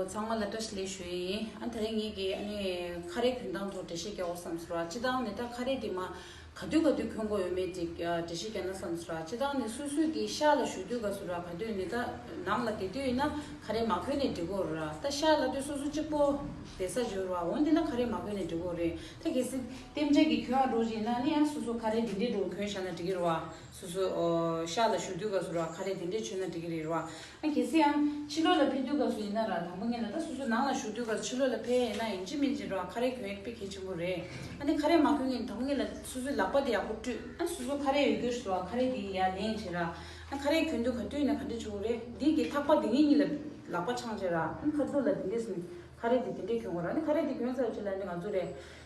ཚང་མ་ལ་བཀྲ་ཤིས་ལེགས་ཞུ་ཡིན། ཨ་ད་རེས་ངེད་ཀྱིས་ཨ་ནི་ཁ་རས་གྱོན་སྟངས་ཐོག་འགྲེལ་བཤད་རྒྱག་འོ་བསམ་སོ་ར་ཅི་ལྟའང་ནི་ད་ཁ་རས་དེ་མ་ག་དུས་ག་དུས་གྱོན་དགོས་ཡོད་མེད་དེ་འགྲེལ་བཤད་རྒྱག་ན་བསམ་སོ་ར་ཅི་ལྟའང་ནི་སུས་སུས་ཀྱིས་ཤག་ལ་བཞུགས་དུས་ག་སོ་ར་ག་དུས་ནི་ད་ནང་ལ་དེ་དུས་ཡིན་ན་ཁ་རས་མ་གྱོན་ནས་འགྲིག་གོ་ར་ད་ཤག་ལ་དུས་སོ་སོ་གཅིག་པོ་དེ་ས་འབྱོར་བ་འོང་དེ་ན་ཁ་རས་མ་གྱོན་ནས་འགྲིག་གོ་རེད་ད་གལ་སྲིད་གཏན་འཇགས་ཀྱི་གྱོན་ཨ་འགྲོ་བཞིན་ན་ནི་ཨ་སོ་སོ་ཁ་རས་འདི་འདྲའི་འགྲོ་གྱོན་ཤག་ན་འགྲིག་གི་ར་བ་སོ་སོ། ཤ་ལ་ཞུགས་དུས་སྐབས་སུ་ར་ཁ་རས་དེ་འདྲས་མཆོད་ན་འགྲིག་གི་རེད་རོ། ཨ་གལ་སྲིད་ཨང། ཕྱི་ལོགས་ལ་ཕེབས་དུས་སྐབས་སུ་ཡིན་ན་ར་དང་པོ་ངེད་ལ་ལྟ་སོ་སོ་ནང་ལ་ཞུགས་དུས་སྐབས་སུ་ཕྱི་ལོགས་ལ་ཕེ་ཡས་ན་ཡིན་ཅི་མིན་ཅི་རོ་ཨ་ཁ་རས་གྱོན་ཡོད་དཔེ་གལ་ཆེན་པོ་རེད། ཨ་ནི་ཁ་རས་མ་གྱོན་གིན་དང་པོ་ངེད་ལ་སོ་སོའི་ལག་པ་དེ་ཡག་པོ་བཀྲུས་ཨ་སོ་སོ་ཁ་རས་ཡོད་དུས་སུ་ཨ་ཁ་རས་དེ་ཡིན་ཡ་ལེན་བྱེད་ར། ཨ་ཁ་རས་གྱོན་དུས་ག་དུས་ཡིན་ན་ག་འདྲས་བྱུང་བ་རེད་འདི་གི་ཐག་པ་དེ་ངེད་གཉིས་ལ་ལག་པ་འཆང་བྱེད་ར་ཨ་ནི་ཁ་རྫུ་ལ་དེ་འདྲས་ཟིན་ཁ་རས་དེ་དེ་འདྲས་གྱོན་དགོས་ར་ཨ་ནི་ཁ་རས་དེ་གྱོན་ཚར་རྗེས་ལ་ཨ་ནི་ང་ཚོ་རས་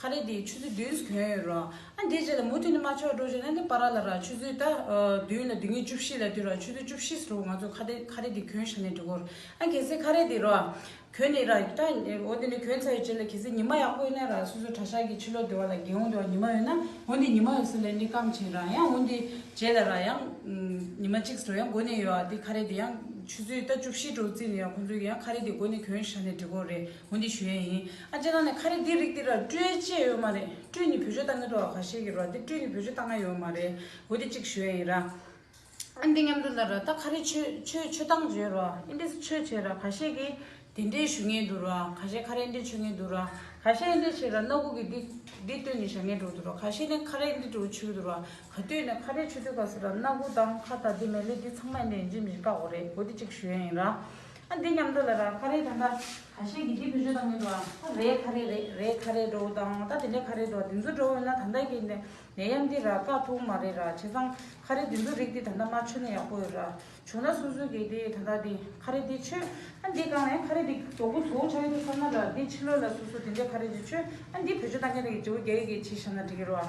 ཁ་རས་དེ་ཆུ་ཚོད་བདུན་གྱོན་ཡོད་རོགས་ཨ་འདི་རྗེས་ལ་མུ་མཐུད་ནས་མ་ཆོག་འགྲོ་བྱུང་ན་ནི་པ་ར་ལ་ར་ཆུ་ཚོད་ད་བདུན་ལ་དེ་ངེས་བཅུ་བཞི་ལ་བསྡུས་ར་ཆུ་ཚོད་བཅུ་བཞི་ཟེར་བ་ང་ཚོ་ཁ་རས་ཁ་རས་དེ་གྱོན་ཤ་ནས་འགྲོ་གོ་རོགས་ཨ་གལ་སྲིད་ཁ་རས་དེ་རོགས་གྱོན་ནས་ར་ཏྲ་འོ་དེ་ནས་གྱོན་ཚར་ཡོད་རྗེས་ལ་གལ་སྲིད་ཉི་མ་ཡག་པོ་ཡོད་ན་ར་སོ་སོ་གྲྭ་ཤག་གི་ཕྱི་ལོགས་དེ་བ་ལ་དགེ་འོང་དེ་བ་ཉི་མ་ཡོད་ན་འོ་འདི་ཉི་མ་ཡོད་ས་ལས་ནི་སྐམ་བྱིན་ར་ཡང་འོ་འདི་རྗེས་ལ་ར་ཡང་ཉི་མ་གཅིག་ཟེར་བ་ཡང་འགོ་ནས་ཡོད་ཨ་དེ་ཁ་རས་དེ་ཡང་ཆུ་ཚོད་ད་བཅུ་བཞི་འགྲོ་བརྩིས་ནས་ཡང་ཁོང་ཚོའི་ཡང་ཁ་རས་དེ་འགོ་ནས་གྱོན་ཤ་ནས་འགྲོ་གོ་རེད། བོ་འདི་ཞུ་ཡས་ཡིན། ཨ་ཅེ་ལགས་ནས་ཁ་རེ་འདི་རིགས་འདི་ར་སྤྲུལ་བཅས་ཡོད་མ་རེད་སྤྲུལ་ནི་བོད་ཆོས་ལྟ་ངན་འགྲོ་བ་ག་ཤེད་ཀྱི་རོ་འདི་སྤྲུལ་ནི་བོད་ཆོས་ལྟ་ང་ཡོད་མ་རེད་བོ་འདི་གཅིག་ཞུ་ཡས་ཡིན་ར། ཨ་འདི་ཉམས་འགྲོ་འདར་ར་ད་ཁ་རེ་ཆོས་ཆོས་ཆོས་སྟངས་བརྗོད་རོ་ཨ་འདི་སུ་ཆོས་བྱས་ར་ག་ཤེད་ཀྱི་དེ་འདྲས་ཞུ་ངན་འདུག་ར་ག་ཤེད་ཁ་རེ་འདྲས་ཆོས་ངན་འདུག་ར་ག་ཤེད་འདྲས་བྱས་ར་ནོར་བུ་གི་འདི་འདི་ལྟོས་ནས་བཞག་ངན་འགྲོ་འདུག་ར་ག་ཤེད་ནས་ཁ་རེ་འདི་འདྲས་ཆོས་འདུག་ར་ག་ལྟོས་ནས་ཁ་རེ་ཆོས་འདུག་ག་ཟེར་ར་སྣ་དགུ་དང་ཁ་བཏགས་འདི་མལ་ལས་འདི་ཚང་མ་འདྲས་འཇིག་མི་འཇིག་བཀག་འོ་རེད་བོ་འདི་གཅིག་ཞུ་ཡས་ཡིན་ར། ཨ་འདི་མཉམ་འགྲོ་ལ་ར་ཁ་རེ་ད་ལྟ་ག་ཤེད་ཀྱི་དེ་བུ་བཞོ་དང་མི་འགྲོ་ཨ་རེ་ཁ་རེ་རེད་རེད་ཁ་རེ་འགྲོ་དང་ད་དེ་འདྲས་ཁ་རེ་འགྲོ་དེ་ཚོ་འགྲོ་འོན་ན་ད་ལྟ་ཀྱི་ནད་ཡམས་འདི་ར་དཀའ་ཐུག་མ་རེད་ར་བྱས་ཙང་ཁ་རེ་དེ་ཚོ་རིགས་འདི་ད་ལྟ་མ་ཆོད་ན་ཡག་པོ་ཡོད་ར་བྱུང་ན་སུ་སུ་གི་དེ་ད་ལྟ་དེ་ཁ་རེ་དེ་ཆོད་ཨ་འདི་གང་ནས་ཁ་རེ་དེ་གྲོགས་པོ་ཚོ་ཆ་ཡོད་དུ་བསམ་ན་ར་འདི་ཕྱི་ལོ་ལ་སུ་སུ་དེ་འདྲས་ཁ་རེ་དེ་ཆོད་ཨ་འདི་བུ་བཞོ་དང་མཉམ་འགྲོ་གི་བྱེའུ་རྒྱལ་ཡོད་ཀྱི་བྱས་ཤ་ན་འགྲིག་གི་རོ་ཨ།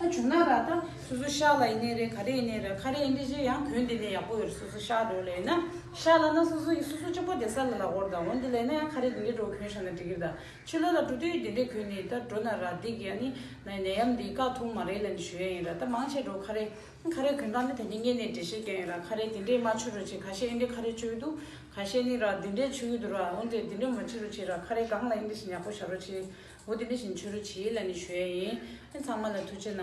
ཨ་བྱུང་ན་ར་ད་སོ་སོ་ཤ་ལ་ཡིན་ནའི་རེད་ག་རེ་ཡིན་ནའི་རེད་ཁ་རེ་ཡིན་དེ་བཞིན་ཡང་བོད་འདི་ནས་ཡག་པོ་ཡོད་རེད་སོ་སོ་ཤ་འགྲོ་ལེ་ཡིན་ན་ཤ་ལ་ན་སོ་སོ་ཡིན་སོ་སོ་ཅོག་པོ་བསྡད་ས་ལ་ལ་ཧོར་དང་འོན་དེ་ལས་ན་ཡང་ཁ་རེ་དེ་འདྲའི་འགྲོ་གོན་ཤ་ན་འགྲིག་གི་དང་ཆུ་ལ་ལ་འགྲོ་དུས་དེ་འདྲའི་གོན་ནི་ད་འགྲོ་ན་ར་འདི་གི་ཨ་ནི་ནའི་ནད་ཡམས་འདི་ཀ་ཐུང་མ་རེད་ལ་ནི་ཞོ་ཡ་ཡིན་ར་ད་མང་ཆེ་འགྲོ་ཁ་རེ་ཁ་རེ་གོན་སྟངས་ནི་ད་ནི་གཉན་ནད་འདྲེ་ཤེས་ཀྱང་ཡིན་ར་ཁ་རེ་དེ་འདྲའི་མ་ཆུ་རུ་ཆེ་ག་ཤས་ཡིན་དེ་ཁ་རེ་ཆུ་ཡོད་དུ་ག་ཤས་ནི་ར་དེ་འདྲའི་ཆུ་ཡོད་དུ་ར་འོན་དེ་དེ་འདྲའི་མ་ཆུ་རུ་ཆེ་ར་ཁ་རེ་གང་ལ་ཡིན་དེ་བཞིན་ཡག་པོ་ཤ་རུ་ཆེ་འོ་དེ་ནས་བཞིན་ཆོས་རོ་བྱེད་ལ་ནི་བྱོལ་ཡིན། ཚང་མ་ལ་ཐུགས་ཆེ་ན།